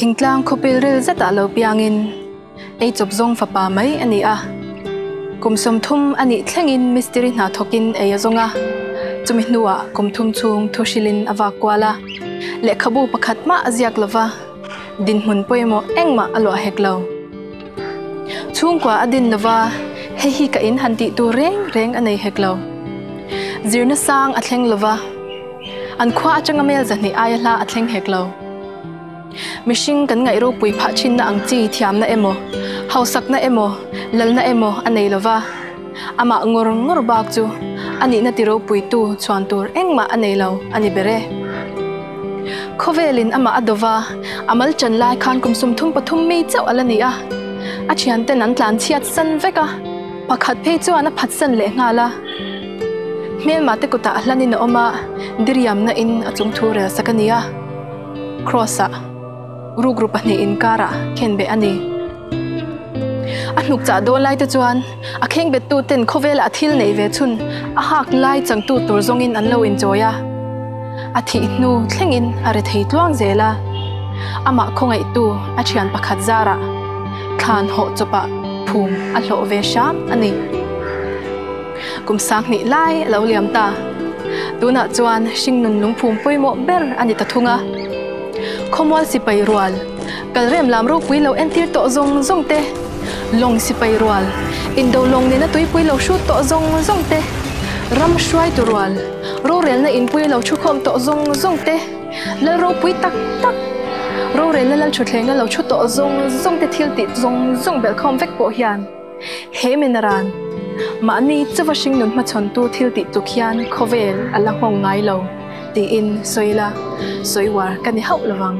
Thingtlang khawpil rel zeta lo piangin ei chawp zawng fapa mai a ni a. Kum sawmthum a nih thlengin mistiri hna thawkin ei a zawng a. Chumi hnuah kum thum chhung thuhrilin a vak kual a, lehkhabu pakhat hmah a ziak lo va. Dinhmun pawimawh engmah a luah hek lo. Chhungkua a din lova hei hi ka in han tih tur reng reng a nei hek lo. Zirna sang a thleng lova, an khua atanga mel zahnih aia hla a thleng hek lo. Mihring kan ngaih ropui phah thinna ang chi thiamna emaw, hausakna emaw, lalna emaw a nei lova. Amah ngawr ngawr bak chu a nihna ti ropuitu chuan tur engmah a nei lo a ni ber e. Khawvelin amah a do va, a mal chan lai khan kum sum thum pathum mi chauh a la ni a. A thianten an tlan chhiat san vek a, pakhat phei chuan a phat san leh nghal a. Hmelma te kutah hlanin a awm a, diriamna in a chungthu rel sak a ni a. Cross-ah. Rukru pahnih inkarah khen beh a ni. A hnuk chah dawn laite chuan a khengbettu ten khawvelah thil neih ve chhun a hak lai changtu tur zawngin an lo inchawi a. A thih hnu thlengin a re thei tluang zel a. Amah khawngaihtu a thian pakhat zarah thlan hawh chawpah phum a hlawh ve hram a ni. Kum sang hnih lai a lo liam ta. Tunah chuan hringnun lungphum pawimawh ber a ni ta thung a. Khawmual sipai rual, kalrem lam ropui lo entir tawh zawng zawng te, lawng sipai rual, indo lawng nena tuipui lo hrut tawh zawng zawng te, ram hruaitu rual, rorelna inpui a lo thu khawm tawh zawng zawng te, lal ropui tak tak, rorelna lal thutthleng a lo thu tawh zawng zawng te thiltih zawng zawng belh khawm vek pawh hian, He mena ran mahni chuva hring nun hmachhawntu thil tih tuk hian khawvel a la nghawng ngai lo tiin sawi la, sawi uar ka ni hauh lovang.